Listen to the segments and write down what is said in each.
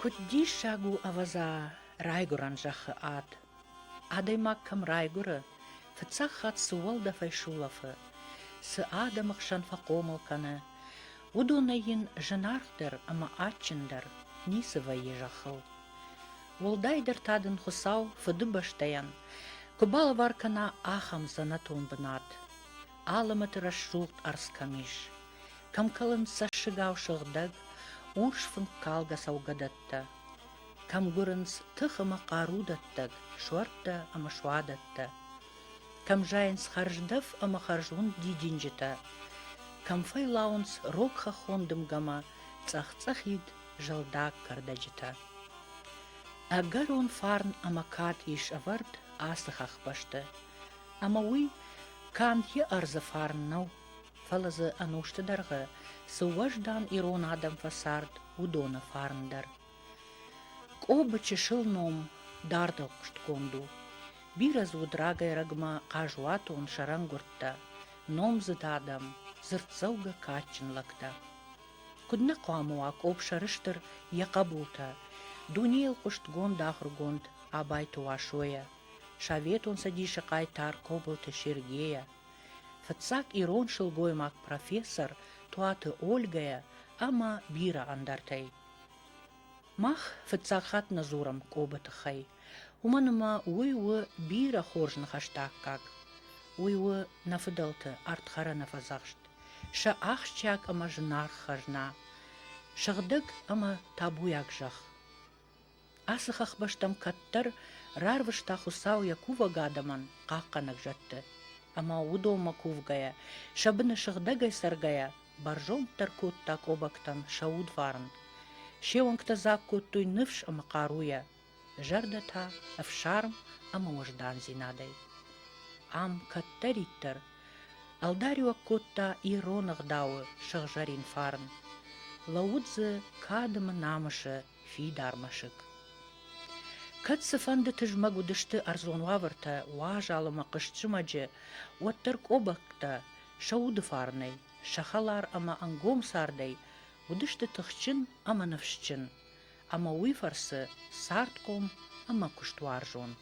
Куыд диссаг у, ӕвӕдза, райгуырӕн зӕххы ад. Адӕймаг кӕм райгуыры, фыццаг хатт цы уӕлдӕфӕй сулӕфы, цы адӕмы хсӕн фӕхъомыл кӕны, уыдонӕй йын зынаргъдӕр ӕмӕ адджындӕр ницы вӕййы зӕххыл. Уӕлдайдӕр та дын Хуыцау Фыдыбӕстӕйӕн куы балӕвар кӕна ахӕм дзӕнӕтон бынат. Алымӕты рӕсугъд ӕрдз кӕм ис, кӕм кӕлынц цӕссыгау сыгъдӕг, урс фынккалгӕ цӕугӕдӕттӕ, кӕм гуырынц тых ӕмӕ хъару дӕттӕг суӕрттӕ ӕмӕ суадӕттӕ, кӕм зайынц хӕрздӕф ӕмӕ хӕрзуынд дидинджытӕ, кӕм фӕйлауынц рог хӕххон дымгӕмӕ цъӕх-цъӕхид зӕлдаг кӕрдӕджытӕ. Ӕгӕрон фарн ӕмӕ кад ис ӕвӕрд ацы хӕхбӕсты, Ӕмӕ уый канд йӕ ӕрдзы фарн нӕу, фӕлӕ дзы ӕнусты дӕргъы цы уӕздан ирон адӕм фӕцард, уыдоны фарн дӕр. Къобы чысыл ном дардыхъуыстгонд у. Бирӕ дзы уыд рагӕй-рагмӕ хъазуатон сӕрӕнгуырдтӕ, номдзыд адӕм, дзырддзӕугӕ кадджын лӕгтӕ. Куыд нӕ хъуамӕ уа Къоб сӕрыстыр йӕ хъӕбултӕ, дунейыл хъуыстгонд ахуыргонд Абайты Уасойӕ, Советон Цӕдисы хъайтар Кобылты Сергейӕ, фыццаг ирон сылгоймаг профессор Туаты Ольгӕйӕ ӕмӕ бирӕ ӕндӕртӕй. Мах фыццаг хатт нӕ дзурӕм Кобы тыххӕй, уымӕн ӕмӕ уый у бирӕ хорз ныхӕсты аккаг. Уый у нӕ фыдӕлты артхӕрӕны фӕдзӕхст, сӕ ахсджиаг ӕмӕ зынаргъ хӕзна, сыгъдӕг ӕмӕ табуйаг зӕхх. Ацы хӕхбӕстӕм кӕддӕр рарвыста Хуыцау йӕ кувӕг адӕмӕн хъахъхъӕнӕг зӕдты, ӕмӕ уыдонмӕ кувгӕйӕ, сӕ быны сыгъдӕгӕй цӕргӕйӕ, бӕрзонддӕр кодта къобӕгтӕн сӕ удварн. Се уӕнгтӕ дзаг кодтой ныфс ӕмӕ хъаруйӕ, зӕрдӕ та ӕфсарм ӕмӕ уӕздандзинадӕй. Ам кӕддӕриддӕр ӕлдариуӕг кодта ирон ӕгъдауы сыгъзӕрин фарн. Лӕууыд дзы кадымы намысы фидар мӕсыг. Кӕд цыфӕнды тызмӕг уыдысты ӕрдзон уавӕртӕ уазал ӕмӕ хъызт зымӕджы, уӕддӕр къобӕгтӕ сӕ уды фарнӕй, сӕ хӕлар ӕмӕ ӕнгом цардӕй уыдысты тыхджын ӕмӕ ныфсджын, ӕмӕ уый фӕрцы цардхъом ӕмӕ куыстуарзон.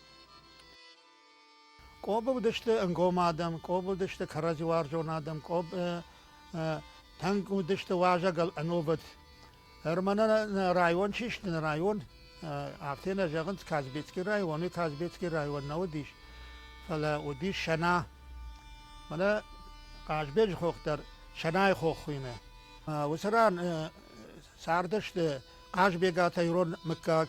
Къобы уыдысты ӕнгом адӕм, къобы уыдысты кӕрӕдзиуарзон адӕм, къобы тӕнг уыдысты уазӕгыл ӕнувыд. Ӕрмӕн район чи сты, нӕ район, афтӕ нӕ зӕгъынц Казбецкий район, Казбецкий район нӕ уыдис, фӕлӕ уыдис Сӕна. Мӕнӕ Хъазбеджы хох дӕр Сӕнайы хох хуыйны. Уыцы ран цардысты Хъазбегаты ирон мыггаг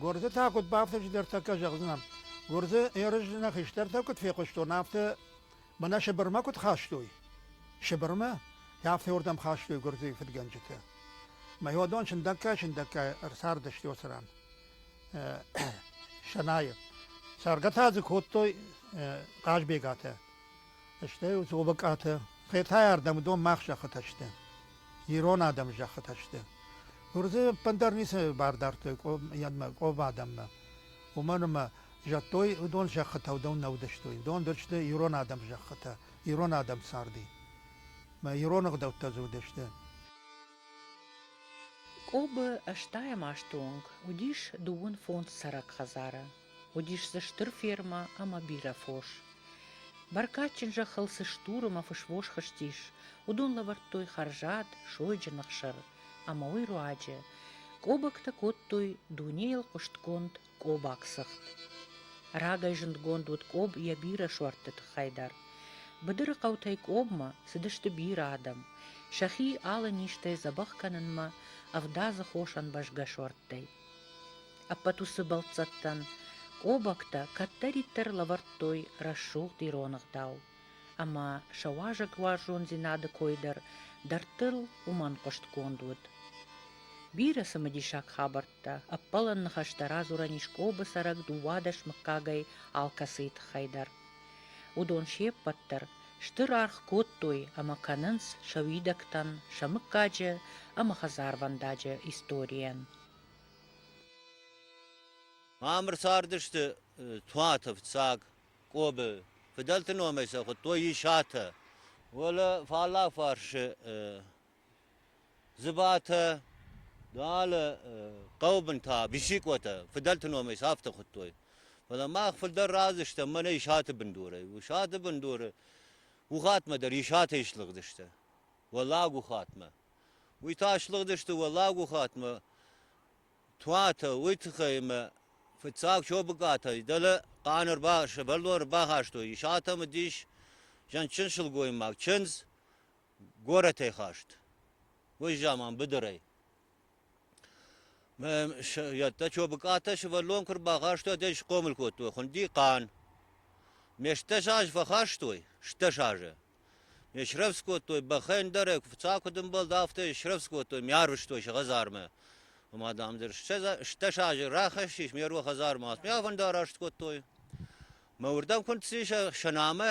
Гуырдзы та куыд бафтыд, дӕр тӕккӕ зӕгъдзынӕн. Гуырдзы Ерызны хистӕртӕ куыд фехъуыстон, афтӕ мӕнӕ Сыбырмӕ куыд хастой. Сыбырмӕ? Афтӕ уырдӕм хастой гуырдзыйы фыдгӕнджытӕ. Мӕйодон сындӕггай-сындӕггай ӕрцардысты уыцы ран. Сӕнайы. Цӕргӕ та дзы кодтой Хъазбегатӕ. Стӕй уыцы обыкъаты Хетӕйӕрдӕм уыдон мах зӕххытӕ сты. Ирон адӕм зӕххытӕ сты. Нур дзы ӕппындӕр ницы бар дардтой Къоба адӕммӕ. Уымӕн ӕмӕ зӕдтой уыдон зӕххытӕ уыдон нӕ уыдыстой. Уыдон дӕр сты ирон адӕм зӕххытӕ, ирон адӕм царди. Мӕ ирон ӕгъдӕуттӕ дзы уыдысты. Къобы ӕстайӕм азты онг уыдис дыууын фондз цӕрӕг хӕдзары. Уыдис дзы стыр фермӕ ӕмӕ бирӕ фос. Бӕркадджын зӕххыл цы стур ӕмӕ фысвос хызтис, уыдон лӕвӕрдтой хӕрзад, сойджын ӕхсыр ӕмӕ уый руаджы къобӕгтӕ кодтой дунейыл хъуыстгонд къобаг цыхт. Рагӕй зындгонд уыд къоб йӕ бирӕ суӕртты тыххӕй дӕр. Быдыры хъӕутӕй къобмӕ цыдысты бирӕ адӕм, сӕхи алы низтӕй дзӕбӕх кӕнынмӕ ӕвдадзы хос ӕмбӕзгӕ суӕрттӕй. Ӕппӕт уыцы бӕлццӕттӕн къобӕгтӕ кӕддӕриддӕр лӕвӕрдтой рӕсугъд ирон ӕгъдау, ӕмӕ сӕ уазӕг уарзондзинады кой дӕр дӕрдтыл уымӕн хъуыстгонд уыд. Бирӕ цымыдисаг хабӕрттӕ, ӕппӕлӕн ныхӕстӕ радзурӕн ис Къобы цӕрӕг дыууадӕс мыггагӕй алкӕцыйы тыххӕй дӕр. Уыдон се ппӕт дӕр стыр аргъ кодтой ӕмӕ кӕнынц сӕ уидӕгтӕн, сӕ мыггаджы ӕмӕ хӕдзарвӕндаджы историйӕн. Ам ӕрцардысты Туатов, Цаг, Къобы. Фыдӕлты номӕй сӕ хуыдтой Исатӕ. Уӕлӕ фаллаг фарсы Зыбатӕ, алы хъӕубынтӕ, Бисикъотӕ фыдӕлты номӕй сӕфты хуыдтой. Фӕлӕ мах фылдӕр разы стӕм мӕнӕ Исаты бындурӕй. Исаты бындуры Ухатмӕ дӕр Исатӕй слыгъдысты Уӕллаг Ухатмӕ. Уый та слыгъдысты Уӕллаг Ухатмӕ туатӕ, уый тыххӕй ӕмӕ фыццаг Чобыкатӕй дӕлӕ хъаны ӕрба, сывӕллон ӕрбахастой. Исатӕм уыдис зӕндджын сылгоймаг, чындз, горӕтӕй хаст, уой заман быдырӕй. Ядта Чобыкъатӕ сывӕллон куы рбахастой, уӕд ӕй схъомыл кодтой хуынди хъан. Ме стдӕс азы фӕхастой, стдӕс азы. Ме срӕвдз кодтой бӕхӕн дӕр, фыццаг куыд ӕмбӕлд, афтӕ срӕвдз кодтой, ме арвыстой сӕ хӕдзармӕ. Ома, дам, дӕр стдӕс азы рахӕссис ме руа хӕдзармӕ, ме афӕндараст кодтой. Мӕ уырдӕм куы нци сӕ нӕмӕ,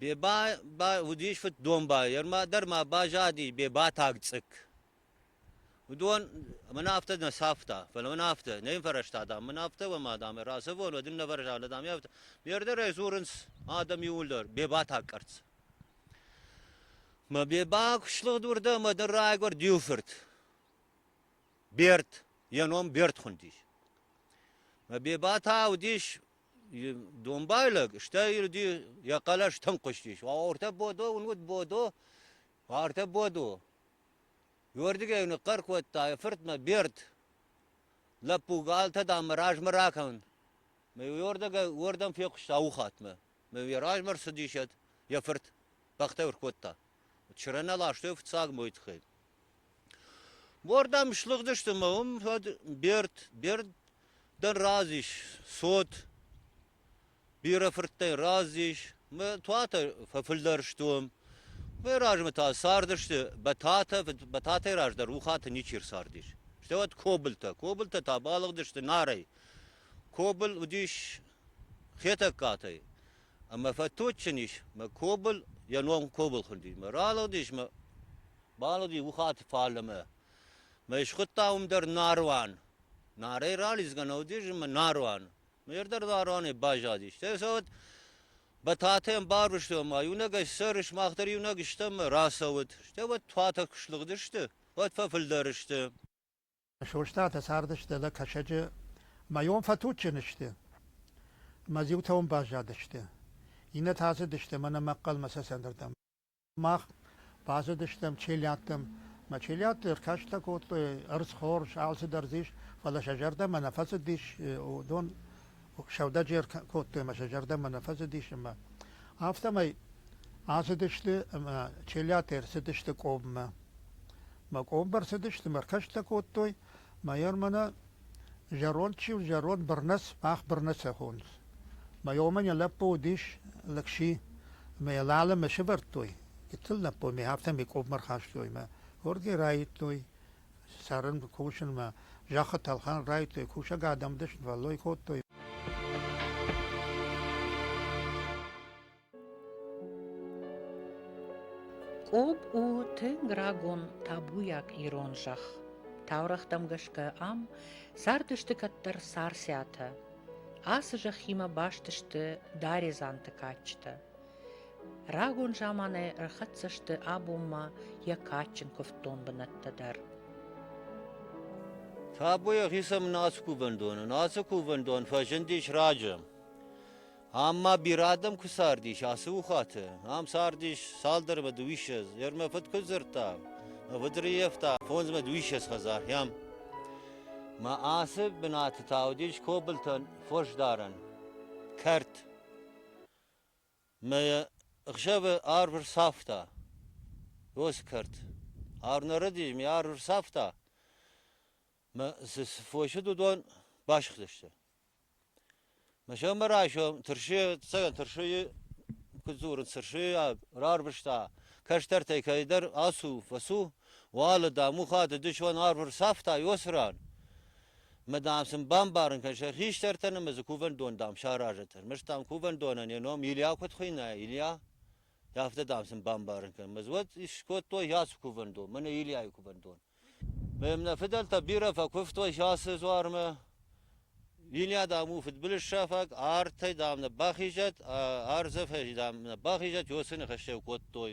Беба ба уыдис фыддомбайӕ, дӕр ма базади Бебатаг цъыкк. Уыдон мӕн афтӕ нӕ цавта, фӕлӕ мӕн афтӕ не нфӕрӕзта, дам, мын афтӕ уӕ ма, дам, рацӕвон, уӕд ын нӕвӕрзӕнлӕ, дам, ӕфтӕ. Ме рдӕрӕй дзурынц адӕм иууылдӕр Бебатаг къӕрцц. Мӕ Беба куы слыгъд уырдӕм, ӕмӕ ныр райгуырд иу фырт. Берд, йӕ ном Берд хуындис. Мӕ Беба та уыдис Домбайлаг, стӕй ирди йӕ хъӕлӕс тынг хъуыстис. Ортӕ Бодо уын уыд Бодо? Ортӕ Бодо. Уырдыгӕй ныхъхъӕр кодта йӕ фыртмӕ Берд. Лӕппу, алтӕ дам мӕ размӕ ракӕн. Мӕ уырдыгӕй уырдӕм фехъуыста ухатмӕ. Мӕ йӕ размӕ рцыдис йӕ фырт. Бӕхтӕ ӕркодта. Чырӕнӕ ластой фыццаг мой тыххӕй. Мордӕм слыгъдысты мӕ уым уӕд Берд, Берд дӕр разис, цот, бирӕ фырттӕй разис, мӕ туатӕ фӕфылдӕр стуым. Уый размӕ та цардысты Бӕтатӕ, Бӕтатӕй раздӕр Ухаты ничи рцардис. Стӕй уӕд Кобылтӕ, Кобылтӕ та балыгъдысты Нарӕй. Кобыл уыдис Хетӕгкатӕй. Ӕмӕ фӕтоджджын ис мӕ кобл, йӕ ном Кобылхы уыди. Мӕ ралыгъдис мӕ балыгъди Ухаты фаллӕмӕ. Мӕ схуыдта уым дӕр Наруан. Нарӕй ралидзгӕ нӕ уыдис ӕмӕ Наруан. Ме рдӕр Наруанӕй баззади. Стӕй сӕ уӕд Бӕтатӕн барвыстой ӕмӕ иунӕгӕй ссӕрис, мах дӕр иунӕг стӕм ӕмӕ рацӕуыд. Стӕй уӕд туатӕ куы слыгъдысты, уӕд фӕфылдӕр сты. Состатӕ цардысты лӕг кӕсӕджы мӕ йон фӕтуджджын сты. Мӕ зиутӕ уым баззадысты. Иннӕтӕ ацыдысты мӕнӕ мӕхъхъӕлмӕ сӕ цӕндыртӕм. Мах базыдыстӕм челядтӕм. Мӕ челядты ӕркастӕ кодтой, ӕрдзхорз, алцыдӕр ис, фӕлӕ сӕ зӕрдӕмӕ нӕ фӕцыдис уыдон сӕудӕджер кодтой ӕмӕ сӕ зӕрдӕмӕ нӕ фӕцыдис ӕмӕ афтӕмӕй ацыдысты ӕмӕ челиатӕ ӕрцыдысты къоммӕ. Мӕ къомбӕр цыдысты, мӕ ркӕстӕ кодтой, мӕйӕр мӕнӕ зӕронд чи у, зӕронд Бырнӕц, мах Бырнӕцы хонынц. Мӕ омӕн йӕ лӕппу уыдис лӕгси, ӕмӕ йӕ лалӕ мӕ сывӕрдтой. Гыццыл лӕппу мӕ афтӕ мӕ къоммӕ рхастой мӕ хорзӕй раивтой, Цӕрын кусынмӕ зӕххы тӕлхӕн райдыдтой, кусӕг адӕм дысвӕллой кодтой. Къоб у тынг рагон табуйаг ирон зӕхх. Таурӕгътӕм гӕсгӕ ам цардысты кӕддӕр царциатӕ. Ацы зӕххимӕ баст сты даредзанты кадджытӕ. Рагон заманӕй ӕрхӕццӕ сты абонмӕ йӕ кадджын куывддон бынӕттӕ дӕр. Табу ӕгъисӕм наци кувӕндонӕн! Ацы кувӕндон фӕзындис раджы. Ам ма бирӕ адӕм куы цардис ацы ухаты. Ам цардис цалдӕрмӕ дыууиссӕдз. Йӕ мӕ фыд куыд дзырдта, выдриевта фондзмӕ дыууиссӕдз хӕдзар йӕм. Мӕ ацы бынаты та уыдис Кобылтӕн фосдарӕн кӕрт. Мӕ ӕхсӕвы арв ӕрцавта. Осгӕрд. Арнӕрӕди ме арв ӕрцавта. Мӕ цы цы фосыд уыдон басыгъдысты. Мӕ сӕрмӕ райсом тырсы, цӕгӕн тырсыйы, куыд дзуры, тырсы, рарвыста, кӕстӕртӕй кӕйдӕр ацу, фӕцу, уалы, дам, ухады, дысон арв ӕрцавта Иосырӕн. мы дам сын бамбарын кӕнӕм сӕ хистӕртӕ ны мы дзы кувӕндон дам саразӕт ӕрмӕст дам кувӕндонӕн йӕ ном Илья куыд хуыйна Илья афтӕ дам сын бамбарын кӕнӕм мы вот скодтой яцы кувӕндон мӕнӕ Ильяйы кувӕндон мӕм нӕ фыдӕлтӕ бирӕ фӕкуывтой сасы дзуармӕ Илья дам у фыдбылызсафӕг артӕй дам нӕ бахизӕт ӕ ӕрдзӕфӕй дам нӕ бахизӕт уоцы ныхӕстӕ кодтой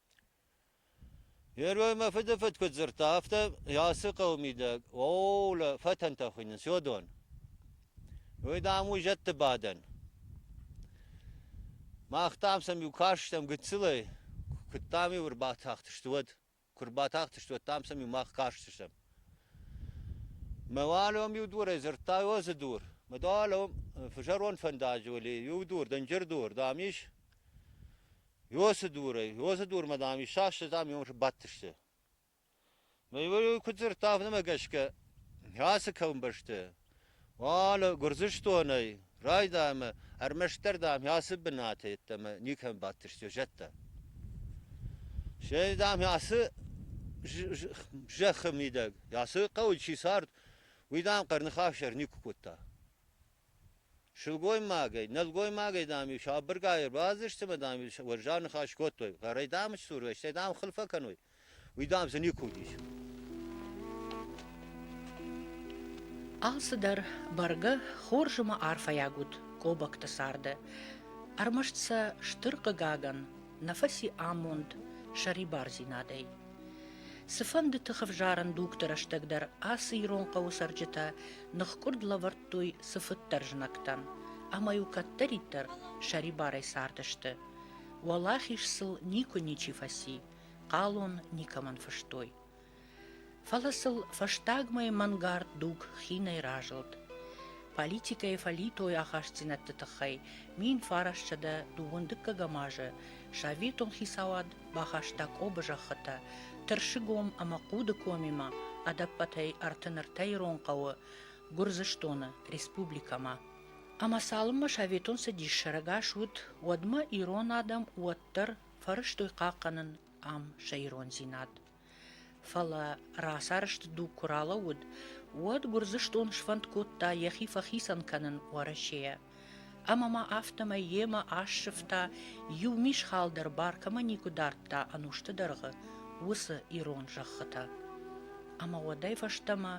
Герой мӕ фыды фыд куыд дзырдта, афтӕ ацы хъӕуы мидӕг оолӕ фӕтӕнтӕ хуыйнынц Йодон. Уый, дам, у зӕдты бадӕн. Мах, дам, сӕм-иу кастыстӕм гыццылӕй, куыд, дам-иу ӕрбатахтысты, уӕд. Куы ӕрбатахтысты, уӕд, дам, сӕм-иу мах кастыстӕм. Мӕ уӕлион-иу дурӕй дзырдта Йозы дур. Мӕ дӕлион фызӕрон фӕндаджы уыли иу дур, дынджыр дур, дам, ис. Иосы дурӕй. Иосы дурмӕ, дам, исаст, дам, иуым сбадтысты. Мӕ иуӕй куыд дзырдта, афтӕмӕй гӕсгӕ ацы комбӕсты уал Гуырдзыстонӕй райдайӕмӕ ӕрмӕстдӕр, дам, ацы бынаты йеддӕмӕ никӕм бадтысты зӕдтӕ. Се, дам, ацы зӕххы мидӕг, ацы хъӕуы чи цард, уый, дам, хъӕрныхасӕр никуы кодта. Сылгоймагӕй, нӕлгоймагӕй, дам, иу сабыргай ӕрбадзысты ӕмӕ, дам, иу уӕззау ныхас кодтой. Хъӕрӕй, дам, сдзурой, стӕй, дам, хыл фӕкӕной. Уый, дам, дзы никуы уыдис. Алцыдӕр бӕргӕ хорз ӕмӕ арфӕйаг уыд Кобокты царды. Ӕрмӕст сӕ стыр хъыгагӕн, нӕ фӕци амонд сӕрибардзинадӕй. Цыфӕндыты хӕвзарӕн дугты рӕстӕг дӕр ацы ирон хъӕуы цӕрджытӕ ныхкъуырд лӕвӕрдтой цыфыддӕр знӕгтӕн, ӕмӕ-иу кӕддӕриддӕр сӕрибарӕй цардысты. Уӕлахиз сыл никуы ничи фӕци, хъалон никӕмӕн фыстой. Фӕлӕ сыл фӕстагмӕ мӕнгард дуг хинӕй разылд. Политикӕйы фӕлитой ахастдзинӕдты тыххӕй мин фарасчъӕдӕ дыууын дыккӕгӕм азы советон хицауад бахаста Къобы зӕххытӕ Тырсыгом ӕмӕ Хъудыкомимӕ, ӕдӕппӕтӕй ӕртын-ӕртӕ ирон хъӕуы Гуырдзыстоны республикӕмӕ. Ӕмӕ цалынмӕ советон цӕдис сӕрӕгас уыд, уӕдмӕ ирон адӕм уӕддӕр фӕрӕзтой хъахъхъӕнын ам сӕ ирондзинад. Фӕлӕ расӕрст дуг куы ралӕууыд, уӕд Гуырдзыстон сфӕнд кодта йӕхи фӕхицӕн кӕнын Уӕрӕсейӕ. Ӕмӕ ма афтӕмӕй йемӕ ассывта, иу мисхал дӕр баркӕмӕ никуы дардта ӕнусты дӕргъы уыцы ирон зӕххытӕ. Ӕмӕ уӕдӕй фӕстӕмӕ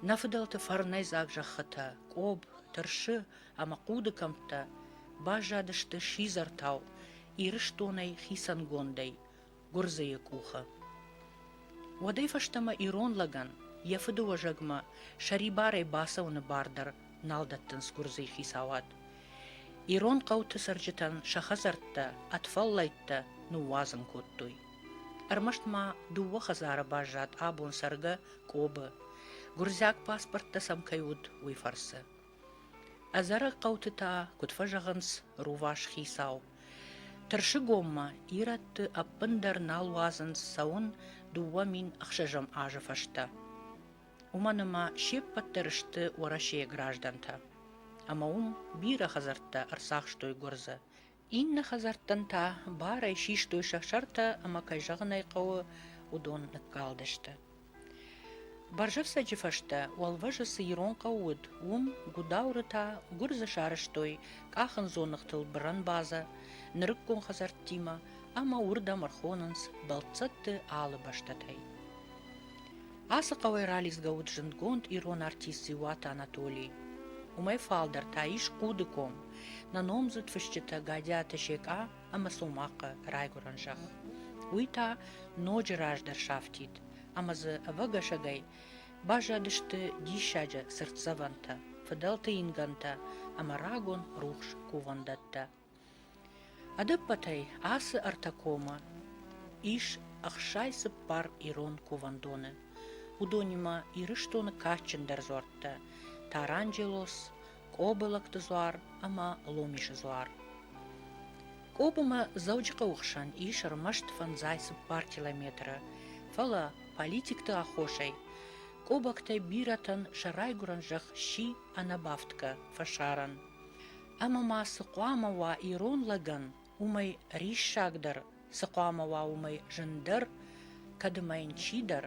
нӕ фыдӕлты фӕрнӕйдзаг зӕххытӕ Къоб, Тырсы ӕмӕ Хъуды кӕмттӕ баззадысты сидзӕртау Ирыстонӕй хицӕнгондӕй, гуырдзыйы къухы. Уӕдӕй фӕстӕмӕ ирон лӕгӕн йӕ фыды уӕзӕгмӕ сӕрибарӕй бацӕуыны бар дӕр нал дӕттынц гуырдзыйы хицауад. Ирон хъӕуты цӕрджытӕн сӕ хӕдзӕрттӕ ӕд фӕллӕйттӕ ныууадзын кодтой. Ӕрмӕст ма дыууӕ хӕдзары баззад абон цӕргӕ Къобы, гуырдзиаг паспорттӕ сӕм кӕй уыд, уый фӕрцы. Ӕдзӕрӕг хъӕуты та, куыд фӕзӕгъынц, рувас хицау. Тырсыгоммӕ ирӕтты ӕппындӕр нал уадзынц цӕуын дыууӕ мин ӕхсӕзӕм азы фӕстӕ. Уымӕн ӕмӕ се ппӕт дӕр сты Уӕрӕсейы граждӕнтӕ. Ӕмӕ уым бирӕ хӕдзӕрттӕ ӕрцахстой гуырдзы, Иннӕ хӕдзӕрттӕн та барӕй систой сӕ сӕртӕ ӕмӕ, кӕй зӕгъын ӕй хъӕуы, уыдон ныккалдысты. Бӕрзӕфцӕджы фӕстӕ уӕлвӕзы цы ирон хъӕу уыд, уым Гудауры та гуырдзы сарӕзтой къахындзоныгътыл бырӕн базӕ, нырыккон хӕдзӕрттимӕ ӕмӕ уырдӕм ӕрхонынц бӕлццӕтты алы бӕстӕтӕй. Ацы хъӕуӕй ралидзгӕ уыд зындгонд ирон артист Дзиуаты Анатоли. Уымӕй фалдӕр та ис Хъуды ком, нӕ номдзыд фысджытӕ Гӕдиаты Секъа ӕмӕ Цомахъы райгуырӕн зӕхх. Уый та ноджы раздӕр сафтид, ӕмӕ дзы ӕвӕгӕсӕгӕй баззадысты диссаджы цыртдзӕвӕнтӕ, фыдӕлты ингӕнтӕ ӕмӕ рагон рухс кувӕндӕттӕ. Ӕдӕппӕтӕй ацы ӕртӕ комы ис ӕхсай цыппар ирон кувӕндоны, уыдонимӕ Ирыстоны кадджындӕр дзуӕрттӕ Таранджелос, Къобылӕгты дзуар ӕмӕ Ломисы дзуар. Къобымӕ Дзӕуджыхъӕуы хсӕн ис ӕрмӕст фӕндзай цыппар километры, фӕлӕ политикты аххосӕй къобӕгтӕй бирӕтӕн сӕ райгуырӕн зӕхх сси ӕнӕбафтгӕ фӕсарӕн. ӕмӕ ма цы хъуамӕ уа ирон лӕгӕн, уымӕй риссагдӕр, цы хъуамӕ уа уымӕй зындӕр, кӕд ӕмӕ йын чидӕр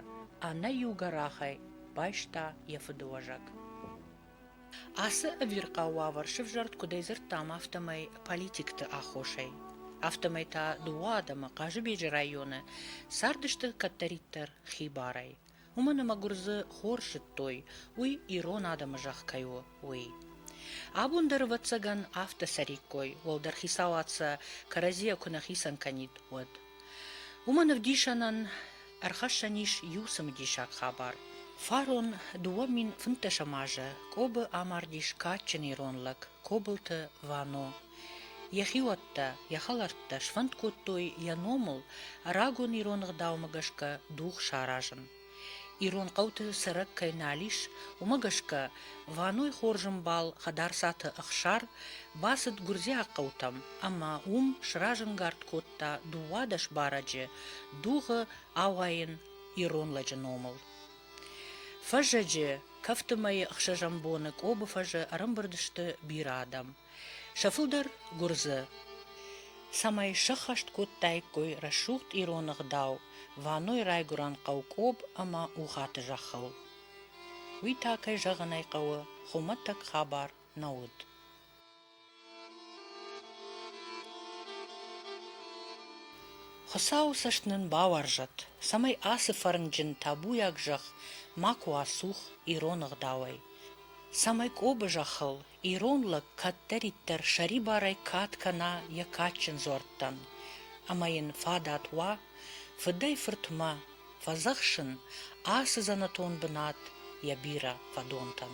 ӕнӕиу гӕрахӕй байста йӕ фыдыуӕзӕг. Ацы ӕвирхъау уавӕр сӕвзӕрд куыдӕй дзырдтам, афтӕмӕй политикты аххосӕй. Афтӕмӕй та дыууӕ адӕмы Хъазыбеджы районы цардысты кӕддӕриддӕр хибарӕй. уымӕн ӕмӕ гуырдзы хор сыдтой, уый ирон адӕмы зӕхх кӕй у, уый. Абон дӕр, ӕвӕццӕгӕн, афтӕ цӕриккой, уӕлдӕр хицауад сӕ кӕрӕдзийӕ куы нӕ хицӕн кӕнид, уӕд. Уымӕн ӕвдисӕнӕн ӕрхӕссӕн ис иу цымыдисаг хабар. Фарон дыууӕ мин фынддӕсӕм азы Кобы амардис кадджын ирон лӕг Кобылты Вано. Йӕ хиуӕттӕ, йӕ хӕлӕрттӕ сфӕнд кодтой йӕ номыл рагон ирон ӕгъдаумӕ гӕсгӕ дуг саразын. Ирон хъӕуты цӕрӕг кӕй нал ис, уымӕ гӕсгӕ Ваной хорзӕмбал Хӕдарцаты Ӕхсар бацыд гуырдзиаг хъӕутӕм ӕмӕ уым сразӕнгард кодта дыууадӕс барӕджы дугъы ауайын ирон лӕджы номыл. Фӕззӕджы кӕфты мӕйы ӕхсӕзӕм боны Къобы фӕзы ӕрӕмбырд сты бирӕ адӕм. Сӕ фылдӕр гуырдзы, цӕмӕй сӕххӕст кодтаиккой рӕсугъд ирон ӕгъдау Ваной райгуырӕн хъӕу Къоб ӕмӕ Ухаты зӕххыл. Уый та, кӕй зӕгъын ӕй хъӕуы, хуымӕтӕг хабар нӕ уыд. Хуыцауы цӕст нын бауарзӕд, цӕмӕй ацы фӕрнджын табуйаг зӕхх ма куы ацух ирон ӕгъдауӕй, цӕмӕй Къобы зӕххыл Ирон лӕг кӕддӕриддӕр сӕрибарӕй кад кӕна йӕ кадджын дзуӕрттӕн, ӕмӕ йын фадат уа фыдӕй-фыртмӕ фӕдзӕхсын ацы дзӕнӕтон бынат йӕ бирӕ фӕдонтӕн.